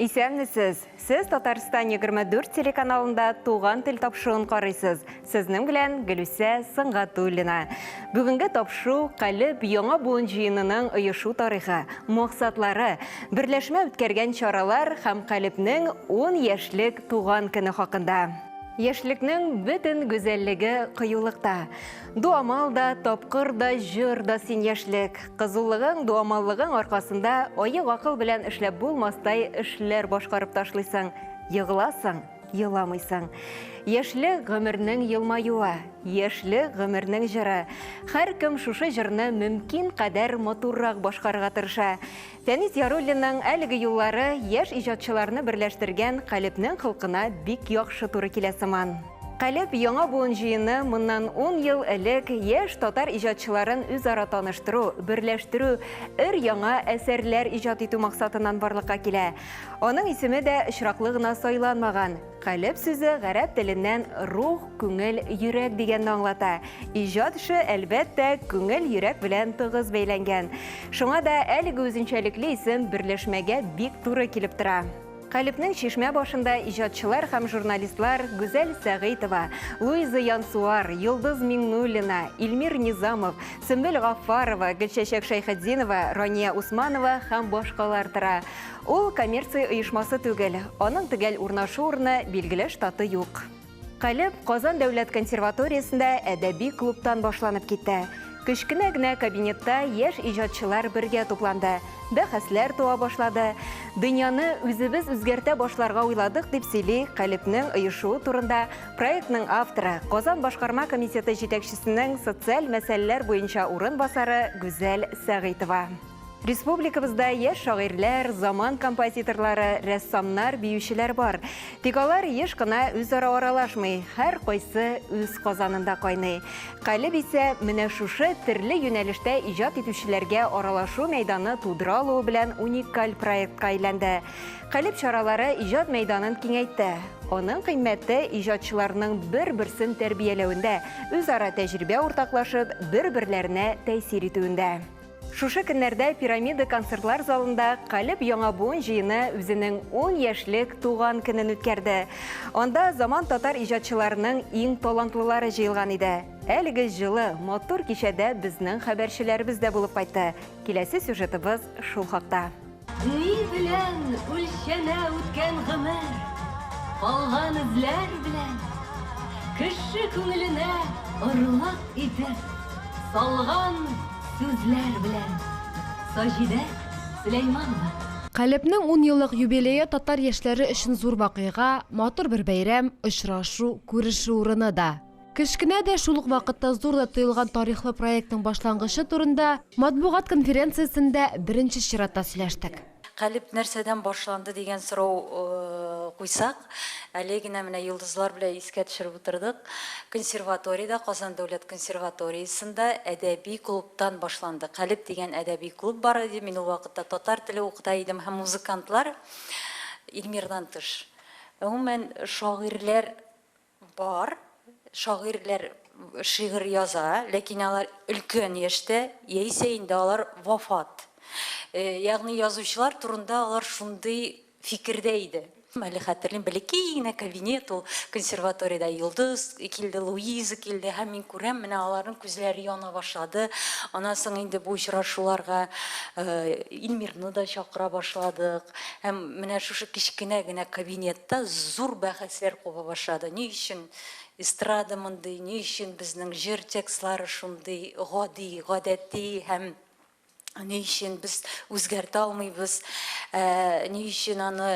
Исәнмесез! Сез Татарстан 24 телеканалында Туган тел тапшыуын карыйсыз. Сезнең белән Гөлүсә Сыңгатуллина. Бүгенге тапшыу Калеб яңа буын җыенының оешу тарихы, максатлары, берләшмә үткәргән чаралар һәм Калебнең 10 яшьлек туган көне хакында. Яшьлекнең бөтен гүзәллеге кыюлыкта. Дуамал да, тапкыр да, җыр да син яшьлек. Кызулыгың, дуамаллыгың аркасында аек акыл белән эшләп булмастай эшләр башкарып ташлыйсың. Егыласың, еламыйсың. Яшьлек гомернең елмаюы, яшьлек гомернең җыры. Һәркем шушы җырны мөмкин кадәр матуррак башкарырга тырыша. Фәнис Яруллинның әлеге юллары яшь иҗатчыларны берләштергән Калебнең холкына бик яхшы туры килә сыман. Калеб яңа буын җыены моннан ун ел элек яшь татар иҗатчыларын үзара таныштыру, берләштерү, өр-яңа әсәрләр иҗат итү максатыннан барлыкка килә. Аның исеме дә очраклы гына сайланмаган. Калеб сүзе гарәп теленнән рух, күңел, йөрәк дигәнне аңлата. Иҗат эше, әлбәттә, күңел, йөрәк белән тыгыз бәйләнгән. Шуңа да әлеге үзенчәлекле исем берләшмәгә бик туры килеп тора. Калебнең чишмә башында иҗатчылар һәм журналистлар Гүзәл Сәгыйтова, Луиза Янсуар, Йолдыз Миңнуллина, Илмир Низамов, Сөмбел Гаффарова, Гөлчәчәк Шәйхетдинова, Рания Усманова һәм башкалар тора. Ул коммерция оешмасы түгел, аның төгәл урнашу урыны билгеле штаты юк. Калеб Казан дәүләт консерваториясендә әдәби клубтан башланып китә. Кечкенә генә кабинетта яшь иҗатчылар бергә тупланды, бәхәсләр туа башлады. Дөньяны үзебез үзгәртә башларга уйладык, дип сөйли Калебнең оешуы турында проектның авторы, Казан башкарма комитеты җитәкчесенең социаль мәсьәләләр буенча урынбасары Гүзәл Сәгыйтова. Республикабызда яшь шагыйрьләр, заман композиторлары, рәссамнар, биючеләр бар. Тик алар еш кына үзара аралашмый, һәр кайсы үз казанында кайный. Калеб исә менә шушы төрле юнәлештә иҗат итүчеләргә аралашу мәйданы тудыра алуы белән уникаль проектка әйләнде. Калеб чаралары иҗат мәйданын киңәйтте. Аның кыйммәте иҗатчыларның бер-берсен тәрбияләвендә, үзара тәҗрибә уртаклашып, бер-берләренә тәэсир итүендә. Шушы көннәрдә Пирамида концертлар залында Калеб яңа буын җыены үзенең 10 яшьлек туган көнен үткәрде. Анда заман татар иҗатчыларының иң талантлылары җыелган иде. Әлеге җылы, матур кичәдә безнең хәбәрчеләребез дә булып кайтты. Киләсе сюжетыбыз шул хакта. Ни белән үлчәнә үткән гомер? Калган эзләр белән. Кеше күңеленә орлык итеп салган сүзләр белән. Саҗидә Сөләйманова. Калебнең ун еллык юбилее татар яшьләре өчен зур вакыйга, матур бер бәйрәм, очрашу, күрешү урыны да. Кечкенә дә, шул ук вакытта зур да тоелган тарихлы проектның башлангычы турында матбугат конференциясендә беренче чиратта сөйләштек. Калеб нәрсәдән башланды дигән сорау куйсак, әле генә менә йолдызлар белән искә төшереп утырдык. Консерваториядә, Казан дәүләт консерваториясендә әдәби клубтан башланды. Калеб дигән әдәби клуб бар иде, мин ул вакытта татар теле укыта идем һәм музыкантлар, Илмирдан тыш, гомумән, шагыйрьләр Бар, шагыйрьләр шигырь яза, ләкин алар өлкән яшьтә, яисә инде алар вафат. Ягъни язучылар турында алар шундый фикердә иде. Әле хәтерлим, бәләкәй генә кабинет ул, консерваториядә Йолдыз килде, Луиза килде һәм мин күрәм, менә аларның күзләре яна башлады. Аннан соң инде бу очрашуларга Илмирны да чакыра башладык. Һәм менә шушы кечкенә генә кабинетта зур бәхәсләр куба башлады. Ни өчен эстрада мондый, ни өчен безнең җыр текстлары шундый гади, гадәти һәм ни өчен без үзгәртә алмыйбыз, ни өчен аны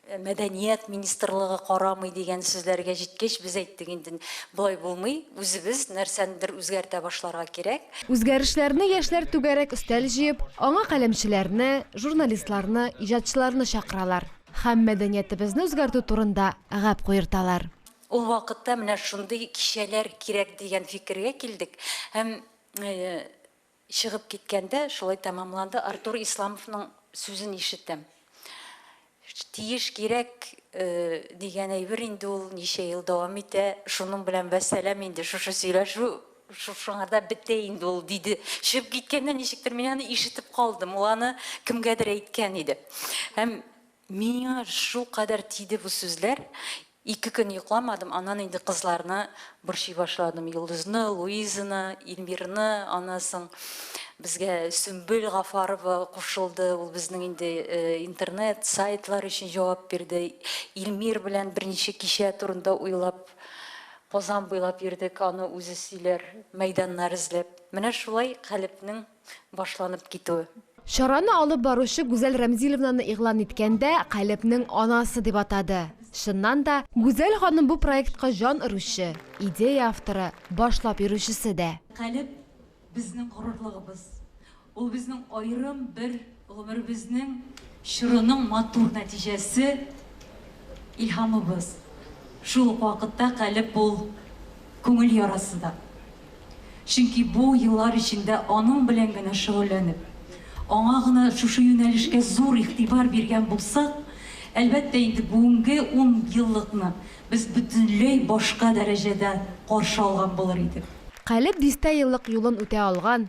мәдәният министрлыгы карамый дигән сүзләргә җиткәч, без әйттек, инде болай булмый, үзебез нәрсәнедер үзгәртә башларга кирәк. Үзгәрешләрне яшьләр түгәрәк өстәл җыеп, аңа каләмчеләрне, журналистларны, иҗатчыларны чакыралар һәм мәдәниятебезне үзгәртү турында гәп куерталар. Ул вакытта менә шундый кичәләр кирәк дигән фикергә килдек һәм чыгып киткәндә шулай тәмамланды. Артур Исламовның сүзен ишетәм. Тиеш, кирәк дигән әйбер инде ул ничә ел дәвам итә, шуның белән вәссәлам инде, шушы сөйләшү шушыңарда бетә инде ул, диде. Чыгып киткәндә ничектер мин аны ишетеп калдым, ул аны кемгәдер әйткән иде. Һәм миңа шулкадәр тиде бу сүзләр, Ике көн йокламадым, аннан инде кызларны борчый башладым, Йолдызны, Луизаны, Ильмирны, аннан соң безгә Сөмбел Гафарова кушылды, ул безнең инде интернет, сайтлар өчен җавап бирде, Ильмир белән беренче кичә турында уйлап Казан буйлап йөрдек, аны үзе сөйләр, мәйданнар эзләп. Менә шулай Калебнең башланып китү. Чараны алып баручы Гүзәл Рәмзиловнаны игълан иткәндә Калебнең анасы дип атады. Чыннан да, Гүзәл ханым бу проектка җан өрүче, идея авторы, башлап йөрүчесе дә. Калеб, безнең горурлыгыбыз. Ул безнең аерым бер. Гомеребезнең чорының матур нәтиҗәсе, илһамыбыз, шул ук вакытта калеб ул күңел ярасы да. Чөнки бу еллар эчендә аның белән генә шөгыльләнеп, аңа гына шушы юнәлешкә зур игътибар биргән булсак, әлбәттә инде бүгенге ун еллыкны без бөтенләй башка дәрәҗәдә каршы алган булыр идек. Калеб дистә еллык юлын үтә алган,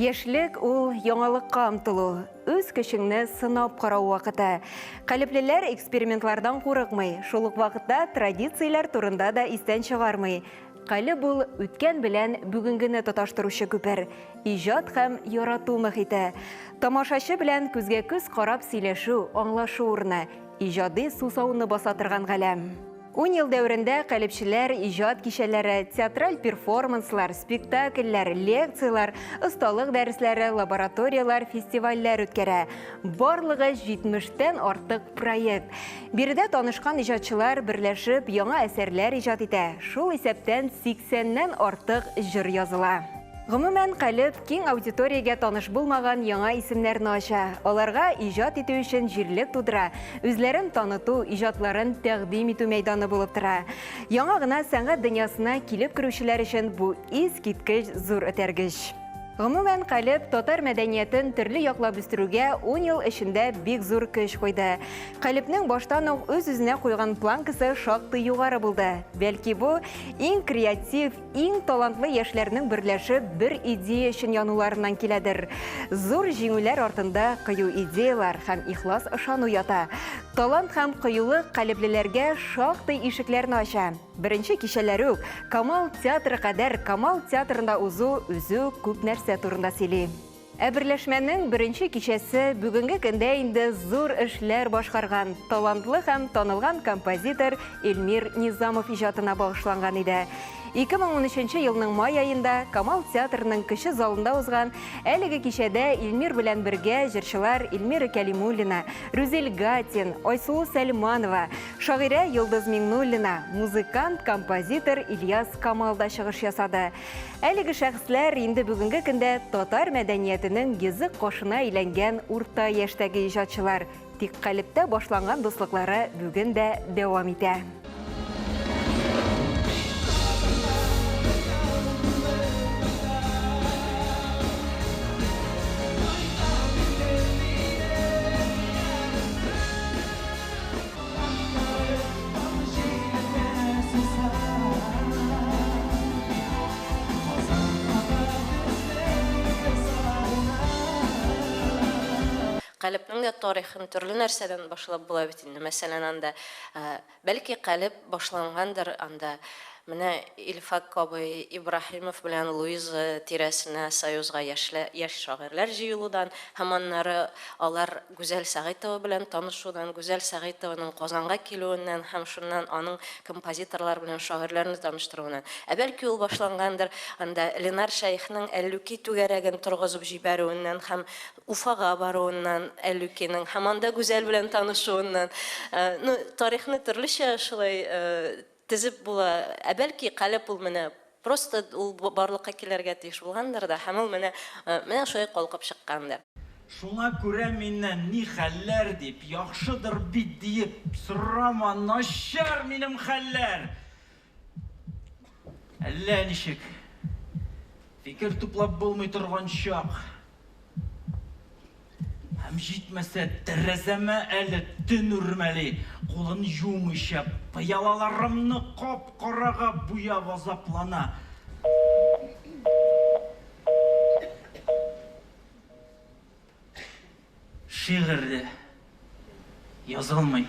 Яшьлек ул яңалыкка омтылу, үз көчеңне сынап карау вакыты. Калеплеләр экспериментлардан курыкмый, шул ук вакытта традицияләр турында да истән чыгармый. Кале бул үткән белән бүгенгене тоташтыручы күпер, иҗат һәм ярату мөхите. Тамашачы белән күзгә-күз карап сөйләшү, аңлашу урыны, иҗади сусауны баса торган галәм. Ун ел дәверендә калебчеләр иҗат кичәләре, театраль перформанслар, спектакльләр, лекцияләр, осталык дәресләре, лабораторияләр, фестивальләр үткәрә. Барлыгы 70 тән артык проект. Биредә танышкан иҗатчылар берләшеп яңа әсәрләр иҗат итә. Шул исәптән 80 нән артык җыр языла. Гомумән, Калеб киң аудиториягә таныш булмаган яңа исемнәрне ача, аларга иҗат итү өчен җирлек тудыра, үзләрен таныту, иҗатларын тәкъдим итү мәйданы булып тора. Яңа гына сәнгать дөньясына килеп керүчеләр өчен бу искиткеч зур этәргеч. Гомумән, Калеб татар мәдәниятен төрле яклап үстерүгә ун ел эчендә бик зур көч куйды. Калебнең баштан ук үз-үзенә куйган планкасы шактый югары булды. Бәлки бу, иң креатив, Иң талантлы яшьләрнең берләшеп бер идея өчен януларыннан киләдер. Зур җиңүләр артында кыю идеялар һәм ихлас ышану ята. Талант һәм кыюлык калеблеләргә шактый ишекләрне ача. Беренче кичәләре үк Камал театры кадәр Камал театрында узу үзе үк күп нәрсә турында сөйли. Ә берләшмәнең беренче кичәсе бүгенге көндә инде зур эшләр башкарган, талантлы һәм танылган композитор Эльмир Низамов иҗатына багышланган иде. 2013 елның май аенда Камал театрының кече залында узган әлеге кичәдә Эльмир белән бергә җырчылар Эльмира Кәлимуллина, Рүзел Гатин, Айсылу Сәлманова, шагыйрә Йолдыз Миңнуллина, музыкант, композитор Ильяс Камал да чыгыш ясады. Әлеге шәхесләр инде бүгенге көндә татар мәдәниятенең йөзек кашына әйләнгән урта яшьтәге иҗатчылар, тик калебтә башланган дуслыклары бүген дә дәвам итә. Калебнең дә тарихын төрле нәрсәдән башлап була бит инде. Мәсәлән, анда, бәлки, калеб башлангандыр, анда менә Илфак Кабый Ибраһимов белән Луиза тирәсенә Союзга яшьләр, яшь шагыйрьләр җыелудан һәм аннары алар, Гүзәл Сәгыйтова белән танышудан, Гүзәл Сәгыйтованың Казанга килүеннән һәм шуннан аның композиторлар белән шагыйрьләрне таныштыруыннан, ә бәлки ул башлангандыр, анда Ленар Шәехнең Әллүки түгәрәген торгызып җибәрүеннән һәм Уфага баруыннан, Әллүкинең, һәм анда Гүзәл белән танышуыннан, ну, тарихны төрлечә шулай Тезеп була. Ә бәлки, калеб ул менә просто ул барлыкка килергә тиеш булгандыр да, һәм ул менә, менә шулай калкып чыккандыр. Шуңа күрә миннән ни хәлләр дип, яхшыдыр бит диеп сорама, начар минем хәлләр! Әллә ничек, фикер туплап булмый торган чак. Һәм җитмәсә, тәрәзәмә әле төн үрмәли, кулын җуымыйча, пыялаларымны кап-карага буяп азаплана. Шигырь дә язылмый,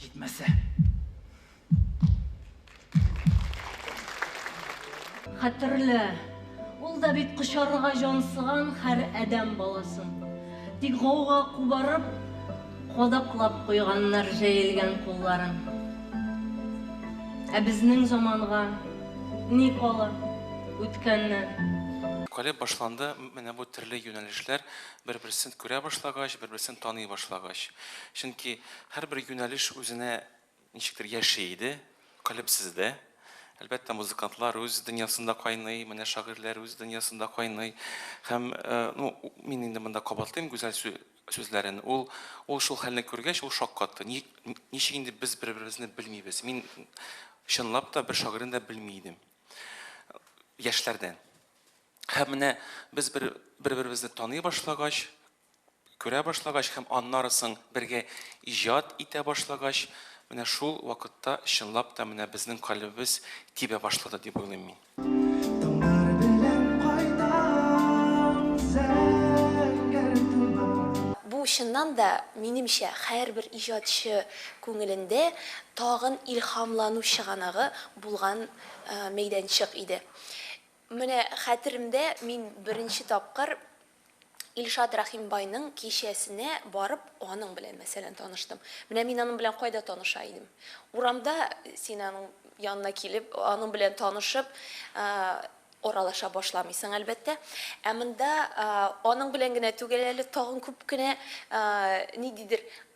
җитмәсә. Хәтерлә, ул да бит кочарырга җансыган хәр адәм баласын. Тик гауга кубарып, кадаклап куйганнар җәелгән кулларын. Ә безнең заманга ни кала үткәннән? Калеб башланды, менә бу төрле юнәлешләр бер-берсен күрә башлагач, бер-берсен таный башлагач. Чөнки һәрбер юнәлеш үзенә Ничектер яши иде, калебсез дә. Әлбәттә, музыкантлар үз дөньясында кайный, менә шагыйрьләр үз дөньясында кайный. Һәм, ну, мин инде монда кабатлыйм Гүзәл сүзләрен. Ул, ул шул хәлне күргәч, ул шаккатты. Ни, ничек инде без бер-беребезне белмибез? Мин, чынлап та, бер шагыйрьне дә белми идем. Яшьләрдән. Һәм менә без бер, бер-беребезне таный башлагач, Күрә башлагач һәм аннары соң бергә иҗат итә башлагач, менә шул вакытта чынлап та менә безнең калебебез тибә башлады дип уйлыйм мин. Таңнар белән кайтам зәңгәр туннан. Бу чыннан да, минемчә, һәрбер иҗатчы күңелендә тагын илһамлану чыганагы булган мәйданчык иде. Менә хәтеремдә, мин беренче тапкыр Илшат Рәхимбайның кичәсенә барып, аның белән, мәсәлән, таныштым. Менә мин аның белән кайда таныша идем? Урамда син аның янына килеп, аның белән танышып, аралаша башламыйсың, әлбәттә. Ә монда аның белән генә түгел әле, тагын күп кенә ниндидер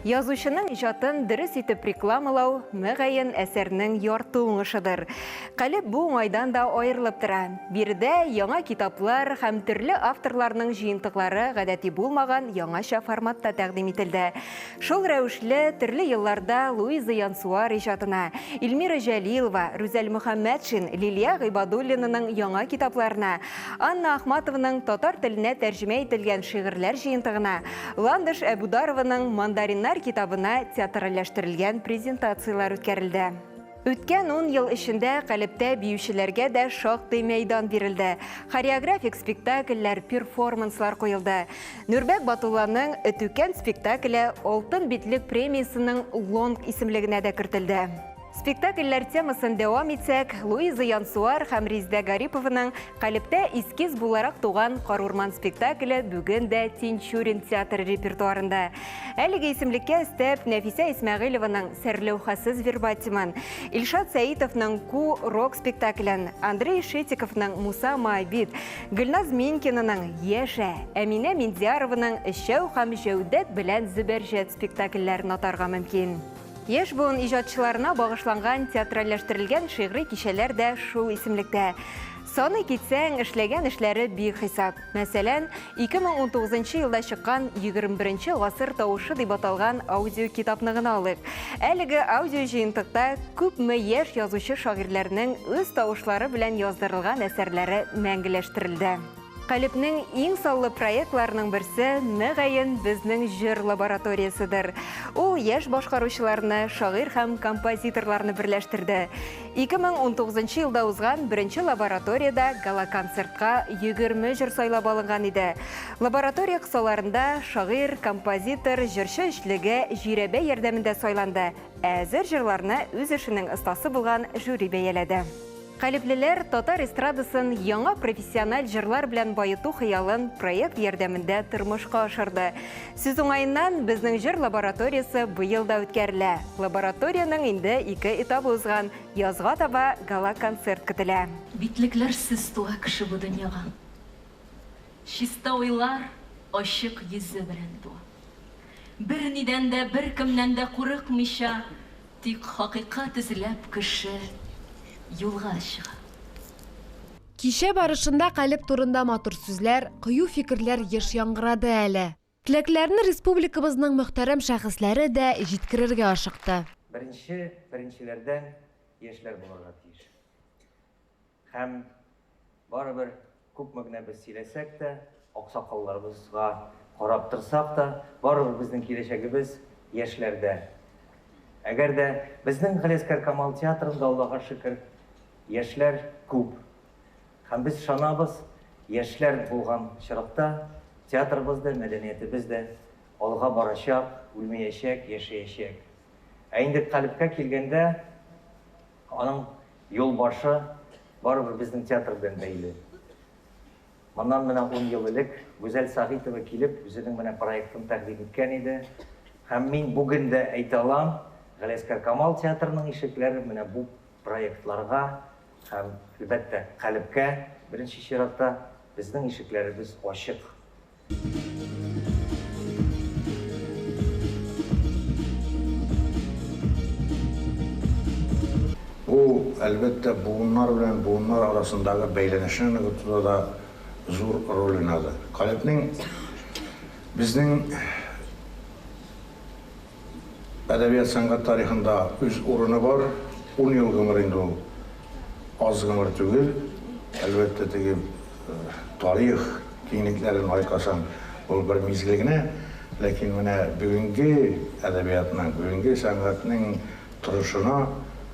Язучының иҗатын дөрес итеп рекламалау, мөгаен, әсәрнең ярты уңышыдыр. Калеб бу уңайдан да аерылып тора. Биредә яңа китаплар һәм төрле авторларның җыентыклары гадәти булмаган яңача форматта тәкъдим ителде. Шул рәвешле төрле елларда Луиза Янсуар иҗатына, Ильмира Җәлилова, Рүзәл Мөхәммәтшин, Лилия Гыйбадуллинаның яңа китапларына, Анна Ахматованың татар теленә тәрҗемә ителгән шигырьләр җыентыгына, Ландыш Әбударованың Мандариннар китабына театральләштерелгән презентацияләр үткәрелде. Үткән ун ел эчендә Калебтә биючеләргә дә шактый мәйдан бирелде. Хореографик спектакльләр, перформанслар куелды. Нурбәк Батулланың Өтүкән спектакле Алтын битлек премиясенең лонг исемлегенә дә кертелде. Спектакльләр темасын дәвам итсәк, Луиза Янсуар һәм Риздә Гарипованың Калиптә эскиз буларак туган Карурман спектакле бүген дә Тинчурин театры репертуарында. Әлеге исемлеккә өстәп Нәфисә Исмәгыйлованың Сәрләүхәсез вербатимын, Илшат Сәитовның Ку рок спектаклен, Андрей Шетиковның Муса Маабид, Гөлназ Минкинаның Яшә, Әминә Миндиярованың Эшәү һәм Җәүдәт белән Зөбәрҗәт спектакльләрен атарга мөмкин. Яшь буын иҗатчыларына багышланган театральләштерелгән шигъри кичәләр дә шул исемлектә. Саный китсәң, эшләгән эшләре бихисап. Мәсәлән, 2019 елда чыккан 21 гасыр тавышы дип аталган аудиокитапны гына алыйк. Әлеге аудиоҗыентыкта күпме яшь язучы-шагыйрьләрнең үз тавышлары белән яздырылган әсәрләре мәңгеләштерелде. Калебнең иң саллы проектларының берсе, мөгаен, безнең җыр лабораторияседер. Ул яшь башкаручыларны, шагыйрь һәм композиторларны берләштерде. 2019 елда узган беренче лабораториядә гала-концертка 20 җыр сайлап алынган иде. Лаборатория кысаларында шагыйрь, композитор, җырчы өчлеге жирәбә ярдәмендә сайланды, ә әзер җырларны үз эшенең остасы булган жюри бәяләде. Калеблеләр татар эстрадасын яңа профессиональ җырлар белән баету хыялын проект ярдәмендә тормышка ашырды. Сүз уңаеннан, безнең җыр лабораториясе быел да үткәрелә. Лабораториянең инде ике этабы узган, язга таба гала-концерт көтелә. Битлекләрсез туа кеше бу дөньяга. Чиста уйлар, ачык йөзе белән туа. Бернидән дә, беркемнән дә курыкмыйча. Тик хакыйкать эзләп кеше юлга чыга. Кичә барышында калеб турында матур сүзләр, кыю фикерләр еш яңгырады әле. Теләкләрен республикабызның мөхтәрәм шәхесләре дә җиткерергә ашыкты. Беренче беренчеләрдән яшьләр булырга тиеш. Һәм, барыбер, күпме генә без сөйләсәк тә, аксакалларыбызга карап торсак та, барыбер безнең киләчәгебез яшьләрдә. Әгәр дә безнең Галиәскар Камал театрында, Аллага шөкер, яшьләр күп. Һәм без ышанабыз, яшьләр булган очракта театрыбыз да, мәдәниятебез дә алга барачак, үлмәячәк, яшәячәк. Ә инде калебкә килгәндә, аның Юлбашы барыбер безнең театр белән бәйле. Моннан менә ун ел элек Гүзәл Сәгыйтова килеп, үзенең менә проектын тәкъдим иткән иде. Һәм мин бүген дә әйтә алам, Галиәсгар Камал театрының ишекләре менә бу проектларга һәм, әлбәттә, Калебкә, беренче чиратта, безнең ишекләребез ачык. Бу, әлбәттә, буыннар белән буыннар арасындагы бәйләнешне ныгытуда да зур роль уйнады. Калебнең безнең. әдәбият-сәнгать тарихында үз урыны бар. Ун ел гомер инде ул аз гомер түгел. Әлбәттә, теге тарих киңлекләрен айкасаң, ул бер мизгел генә. Ләкин менә бүгенге әдәбиятның, бүгенге сәнгатьнең торышына,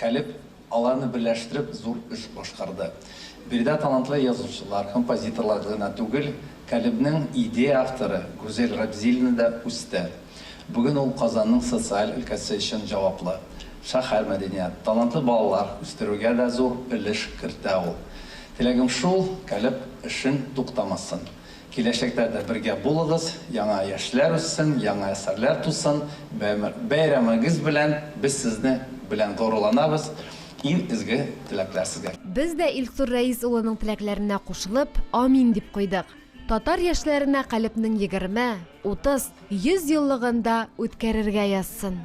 Калеб аларны берләштереп зур эш башкарды. Биредә талантлы язучылар, композиторлар гына түгел, Калебнең идея авторы Гүзәл Рабзилина да үсте. Бүген ул Казанның социаль өлкәсе өчен җаваплы. Шәһәр мәдәният, талантлы балалар үстерүгә дә зур өлеш кертә ул. Теләгем шул, Калеб эшен туктамасын. Киләчәктә дә бергә булыгыз, яңа яшьләр үссен, яңа әсәрләр тусын, бәйрәмегез белән, без сезне белән горурланабыз, иң изге теләкләр сезгә. Без дә Илсур Рәис улының теләкләренә кушылып, амин дип куйдык. Татар яшьләренә Калебнең егерме, утыз, йөз еллыгын да үткәрергә язсын.